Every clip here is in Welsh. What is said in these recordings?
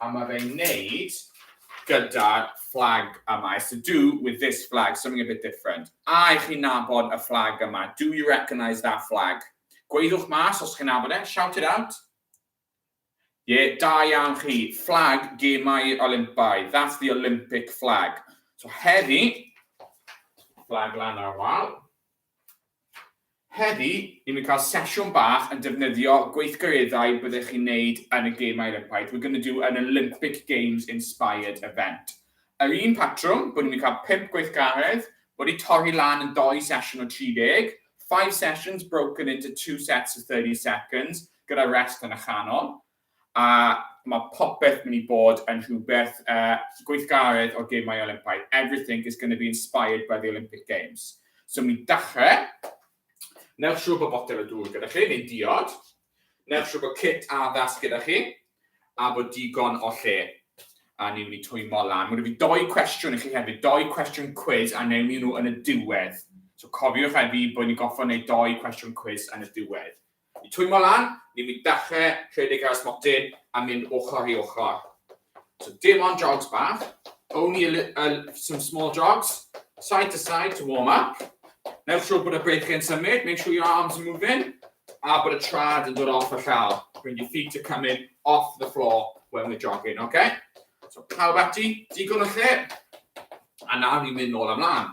A mae fe'n wneud gyda'r fflag yma. It's to do with this flag, something a bit different. A i chi nabod y fflag yma? Do you recognise that flag? Gweiddiwch mas os chi'n nabod e, shout it out. Ie, yeah, da iawn chi. Fflag gemau Olympaidd. That's the Olympic flag. So heddi, fflag lan ar wal. Heddi, ni'n mynd i cael sesiwn bach yn defnyddio gweithgareddau byddech chi'n neud yn y Gemau Olympaidd, we're gonna do an Olympic Games inspired event. Yr un patrwm, bod ni'n mynd i cael pump gweithgaredd, wedi torri lan yn dou sesiwn o 30, five sessions broken into two sets of 30 seconds, gyda rest yn y chanol. A mae popeth mynd i bod yn rhywbeth uh, gweithgaredd o'r gemau Olympaidd. Everything is going to be inspired by the Olympic Games. So mi dachrau, newch siŵr bod botel o dŵr gyda chi, neu diod, newch siŵr bod kit addas gyda chi, a bod digon o lle. A ni'n mynd i twymo lan. Mae'n rhaid i doi cwestiwn i chi hefyd, doi cwestiwn quiz, a newn ni nhw yn y diwedd. So cofiwch hefyd bod ni'n goffa wneud doi cwestiwn quiz yn y diwedd. I twymo lan, ni fydd dechre rhedeg ar smotyn a mynd ochr i ochr. So dim ond jogs bach, only a li- a li- some small jogs, side to side to warm up. Newch siwr bod y beic yn symud, make sure your arms are moving, a bod y trad yn dod off y llawr. When your feet are coming off the floor when we're jogging, okay? So pawb ati, digon o lle, a nawr ni'n mynd nôl a mlaen.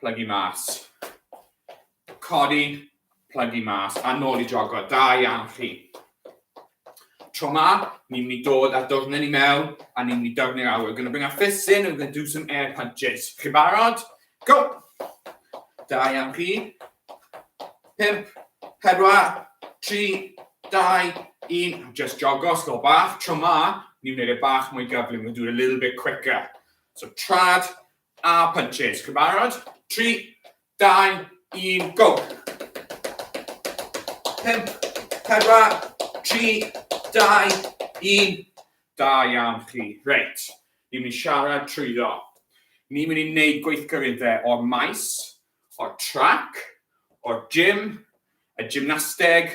plygu mas, codi, plygu mas, a nôl i jogo. Da iawn chi. Tro ma, ni'n mynd i dod a dwrnyn i mewn, a ni'n mynd i dyrnu'r awyr. We're going to bring our fists in and we're going to do some air punches. Chi barod? Go! Da iawn chi. Pimp, pedwar, tri, dau, un. Just jogo, slo bach. Tro ma, ni'n mynd i bach mwy gyflym. We'll do it a little bit quicker. So trad, A punches. Chi'n barod? Tri, dau, un, go! Pump, pedwar, tri, dau, un. Da iawn chi. Reit, ni'n mynd i siarad trwyddo. Ni'n mynd i wneud gweithgareddau o'r maes, o'r trac, o'r gym, y gymnasteg,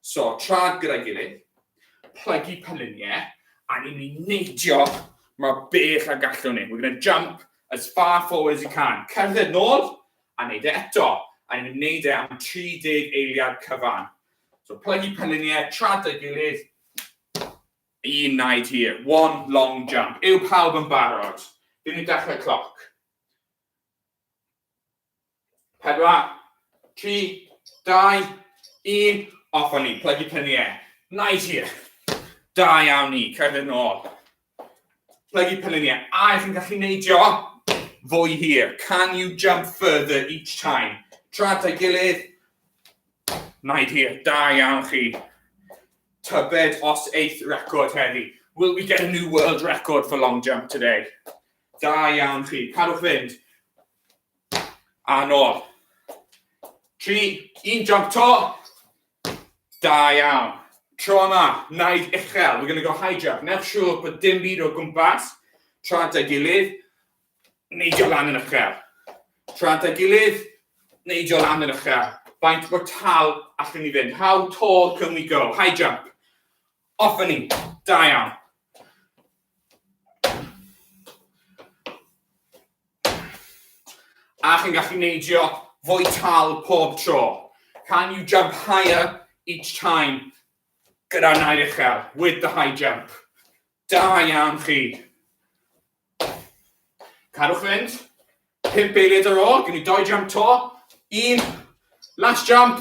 So, traed gyda'i gilydd, plygu pyluniau, a ni'n mynd i neidio mor bell a gallwn ni. We're going to jump as far forward as you can. Cerdded nôl, a neud e eto. A ni'n mynd i neud e am 30 eiliad cyfan. So, plygu pyluniau, traed gyda'i gilydd, un naid hir, one long jump. Yw pawb yn barod? Fi'n mynd i dechrau cloc. 4, 3, 2, 1, off o'n i, plygu prynu e. Nice here. Da iawn ni, cerdded nôl. Plygu prynu ni e. A ych chi'n gallu neidio? Fwy hir. Can you jump further each time? Tra ta'i gilydd. Naid hir, da iawn chi. Tybed os eith record heddi. Will we get a new world record for long jump today? Da iawn chi. Cadwch fynd. A nôl. Tri, un jump to. Da iawn. Tro yma, naid uchel. We're going to go high jump. Newch siŵr bod dim byd o gwmpas. Tra at ei gilydd. Neidio lan yn uchel. Tra at ei gilydd. Neidio lan yn uchel. Faint bod tal allwn ni fynd. How tall can we go? High jump. Off ni. Da iawn. A chi'n gallu neidio fwy tal pob tro. Can you jump higher each time? Gyda'r nair uchel, with the high jump. Da iawn chi. Cadwch fynd. Pump eiliad ar ôl, gen i doi jump to. Un, last jump.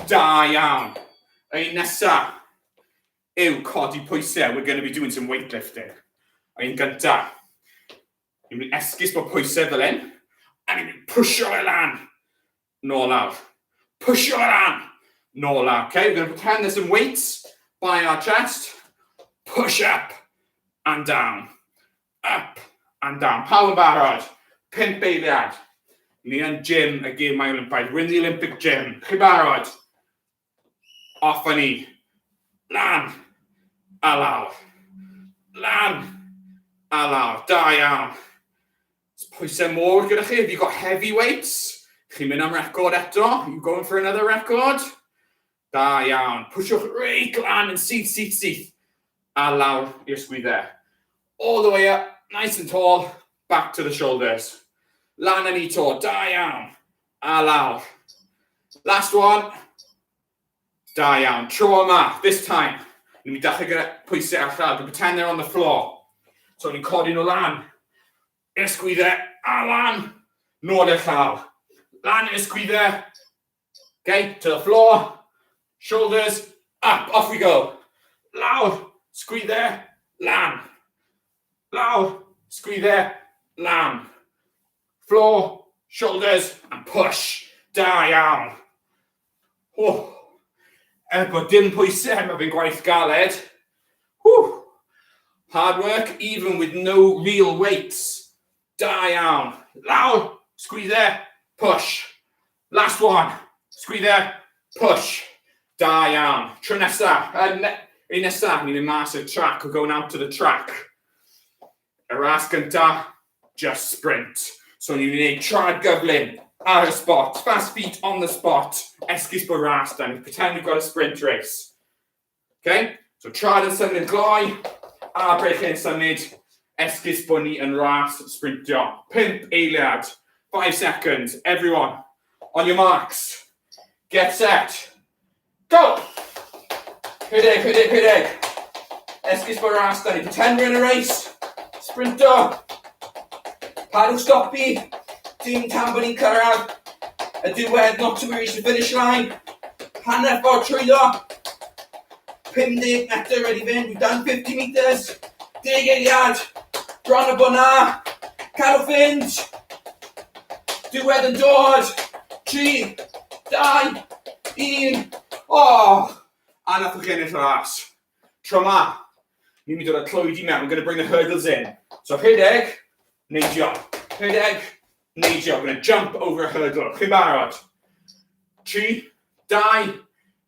Da iawn. Yr un nesa. yw codi pwysau, we're going to be doing some weightlifting. A un gynta, ni'n mynd i esgus bod pwysau fel hyn, a ni'n mynd pwysio fe lan, nôl lawr, pwysio fe lan, nôl lawr. Okay, we're going to pretend there's some weights by our chest, push up and down, up and down. Pawb yn barod, pimp eiliad. Ni yn gym y gym mae Olympaidd, we're in the Olympic gym. Chi barod? Off â ni! Lan! A lawr! Lan! A lawr! Da iawn! It's pwysau môr gyda chi, have you got heavy weights? Chi'n mynd am record eto? You going for another record? Da iawn. Pwyswch reit lan yn syth, syth, syth. A lawr i'r sgwyddau. All the way up, nice and tall, back to the shoulders. Lan yn ni to, da iawn. A lawr. Last one. Da iawn. Tro yma, this time. Ni'n mynd i dachrau gyda pwysau ar llaw. Dwi'n pretend they're on the floor. So ni'n codi nhw lan. I'r sgwyddau. A lan. Nôl i'r llaw. Lan i'r sgwyddau. Okay, to the floor. Shoulders up. Off we go. Lawr. Sgwyddau. Lan. Lawr. Sgwyddau. Lan. Floor, shoulders and push. Da iawn. Ww. Er bod dim pwysau, mae fe'n gwaith galed. Ww. Hard work even with no real weights. Da iawn. Lawr, sgwydde, push. Last one, sgwydde, push. Da iawn. Tro nesaf, uh, ne, ei nesaf, ni'n mynd mas o'r track, we're going out to the track. Y ras gyntaf, just sprint. So ni'n mynd i wneud traed gyflym ar y spot, fast feet on the spot, esgus bod ras da, ni'n pretend we've got a sprint race. Okay? So traed yn symud yn gloi, a breichiau yn symud, esgus bod ni yn ras sprintio. Pimp eiliad, five seconds, everyone, on your marks, get set, Go! Hyd hyd hyd hyd hyd hyd! Esgus bod ras da ni, pretender yn y reis! Sprinto! Padwch stopi! Dim tan bod ni'n cyrraedd y diwedd, not to reach the finish line! Hanner ffordd trwyddo! 50 metr wedi fynd, we've done 50 metres! Deg eiliad! Bron a bod na! Cadwch fynd! Diwedd yn dod! Tri, dau, un, o! A nath nhw gennill y ras. Tro ma, ni'n mynd i roi clwyd i mewn, we're going to bring the hurdles in. So rhedeg, neidio. Rhedeg, neidio. We're going to jump over a hurdle. Chi'n barod? Tri, dau,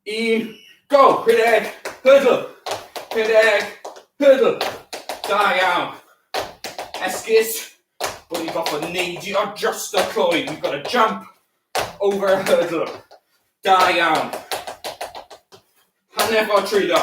Un, go! Pe deg, hurdle! Pe deg, hurdle! Da iawn! Esgus bod ni'n gorfod neidio dros y cloi. We've got to jump over a hurdle. Da iawn. Hanner ffordd trwyddo.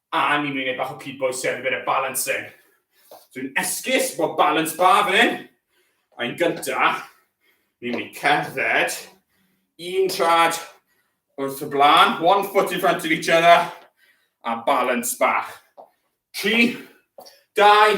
A ni'n mynd i wneud bach o cyd bois and a bit of balancing. Dwi'n esgus bod balance bar fan hyn. A yn gyntaf, ni'n mynd i cerdded un trad wrth y blaen, one foot in front of each other, a balance bach. Tri, dau,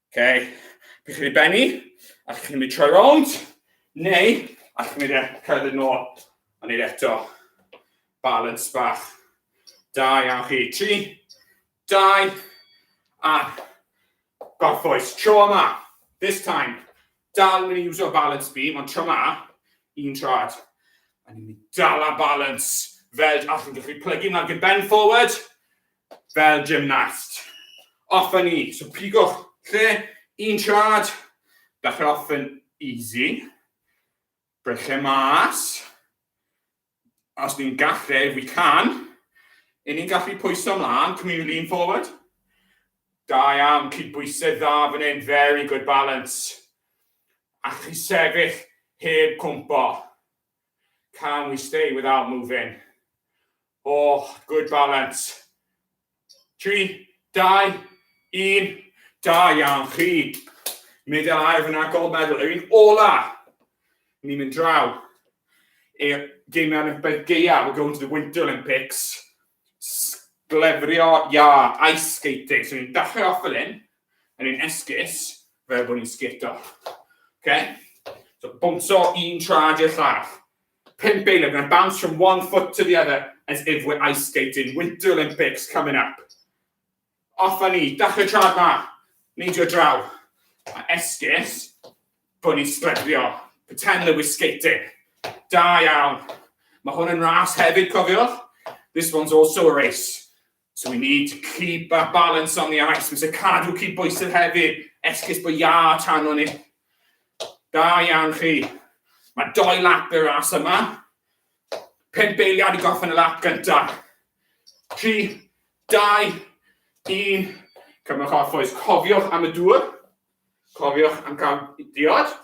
Okay. Chi'n mynd i benni, a chi'n mynd i troi rownd, neu a chi'n mynd i cael yn ôl, a neud eto. Balance bach. Da iawn chi. Tri, dau, a gorffwys. Tro yma. This time. Dal yn mynd i uso balance beam, ond tro yma, un trad. A ni'n mynd i dal a balance. Fel, a chi'n gallu plygu mlaen gyda bend forward, Fel gymnast. Off a ni. So pigwch lle, un siad, dach off yn easy. Brechau mas. Os ni'n gallu, we can. Yn ni'n gallu pwyso mlaen, can we lean forward? Da iawn, cydbwysedd dda fan hyn, very good balance. A chi sefyll heb cwmpo. Can we stay without moving? Oh, good balance. Tri, dau, un. Da iawn chi. Medal air fyna, gold medal. Yr un ola. Ni'n mynd draw. I'r geimiau Olympaidd geiaf. We're going to the Winter Olympics. Sglefrio iâ, ice skating. So ni'n dachrau off fel hyn, a ni'n esgus fel bod ni'n sgito. Okay? So bwmso un trad i'r llall. Pimp eiliad, we're going to bounce from one foot to the other as if we're ice skating. Winter Olympics coming up. Off a ni, dachrau traed ma! Neidio draw, a esgus bod ni'n sglefrio. Pretend that we're skating. Da iawn. Mae hwn yn ras hefyd, cofiwch. This one's also a race. So we need to keep that balance on the ice. Mae'n sy'n cadw cyd bwysedd hefyd. Esgus bod ia tan o'n ni. Da iawn chi. Mae doi lap y ras yma. Pump eiliad i gorffen y lap gyntaf. 3, 2, 1. Cymrwch off oes. Cofiwch am y dŵr. Cofiwch am gael diod.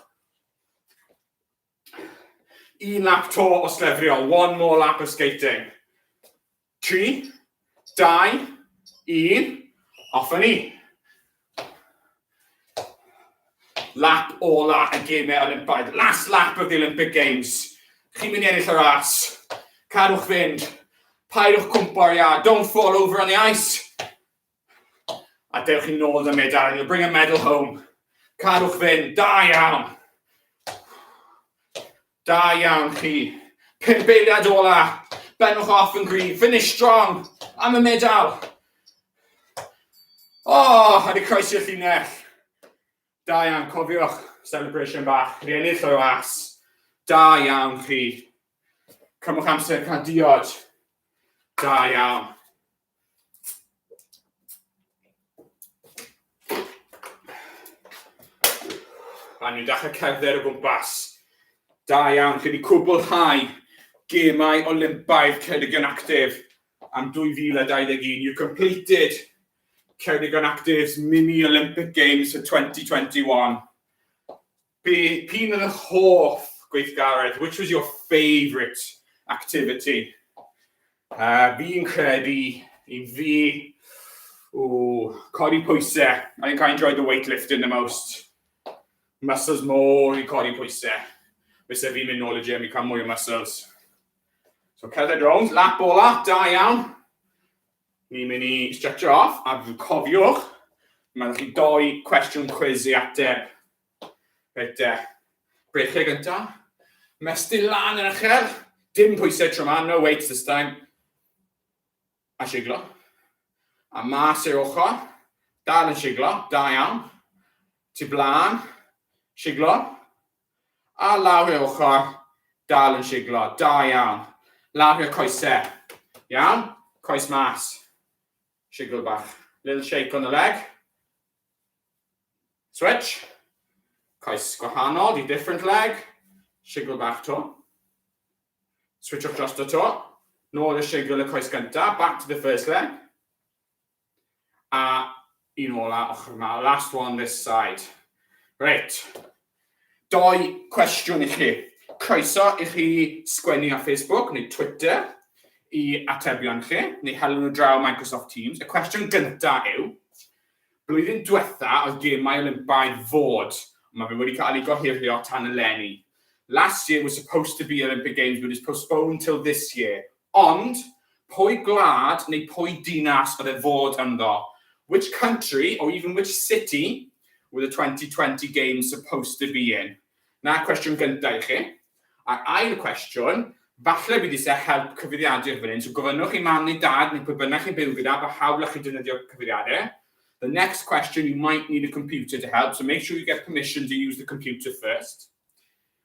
Un lap to o slefrio. One more lap of skating. Tri, dau, un, off a ni. Lap ola y gemau Olympaidd. Last lap of the Olympic Games. Chi'n mynd i ennill y ras. Cadwch fynd. Paidwch cwmpo ar iâ. Don't fall over on the ice. A dewch i nôl yn y medal, you'll bring a medal home. Cadwch fynd, da iawn. Da iawn chi. Pimp eiliad ola. Benwch off yn gryf. Finish strong. Am y medal. O, oh, a di croesi'r llinell. Da iawn, cofiwch. Celebration bach. Rhi ennill o'i was. Da iawn chi. Cymwch amser cael diod. Da iawn. A nhw'n dechrau cerdded o gwmpas. Da iawn, chi wedi cwblhau gemau Olympaidd Ceredigion Actif am 2021. You completed Ceredigion Active's Mini Olympic Games for 2021. Be p'un oedd eich hoff gweithgaredd? Which was your favourite activity? Uh, fi'n credu i fi, o, codi pwysau. I think I enjoyed the weightlifting the most. Muscles more i codi pwysau. Fysa fi'n mynd nôl y gym i cael mwy o muscles. So cerdded rownd, lap ola, da iawn. Ni'n mynd i stretch off, a cofiwch, mae'n chi doi cwestiwn cwiz i ateb. Reit e. Brechiau gynta. Mestyn lan yn uchel. Dim pwysau tro ma, no weights this time. A siglo. A mas i'r ochr. Dal yn siglo, da iawn. Ti blaen. Siglo. A lawr i'r ochr. Dal yn siglo, da iawn. Lawr i'r coesau. Iawn. Coes mas. Siglo bach. Little shake on the leg. Switch. Coes gwahanol di different leg. Shigl bach to. Switchwch drosto to. Nôl y shigl y coes gyntaf, back to the first leg. A un ola ochr yma, last one this side. Reit, Dou cwestiwn i chi. Croeso i chi sgwennu ar Facebook neu Twitter i atebion chi, neu helu nhw draw Microsoft Teams. Y cwestiwn gyntaf yw, blwyddyn diwetha oedd gemau Olympaidd fod, ond mae fe wedi cael ei gohirio tan eleni. Last year was supposed to be Olympic Games but is postponed till this year. Ond, pwy gwlad neu pwy dinas oedd e fod ynddo? Which country, or even which city, were the 2020 games supposed to be in? 'Na cwestiwn gynta' i chi. A'r ail cwestiwn, falle bydd isie help cyfeiriadur fan hyn, so gofynnwch i mam neu dad neu pwy bynnag chi'n byw gyda pa hawl allwch chi defnyddio cyfeiriadur. The next question you might need a computer to help, so make sure you get permission to use the computer first.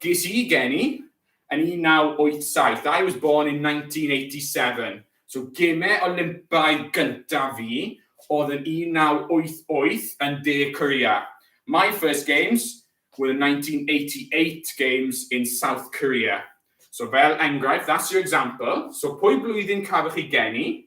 Ges i geni yn 1987, I was born in 1987, so gemau Olympaidd gyntaf fi oedd yn 1988 yn De Korea. My first games were the 1988 games in South Korea. So fel enghraifft, that's your example, so pwy blwyddyn cafoch chi geni?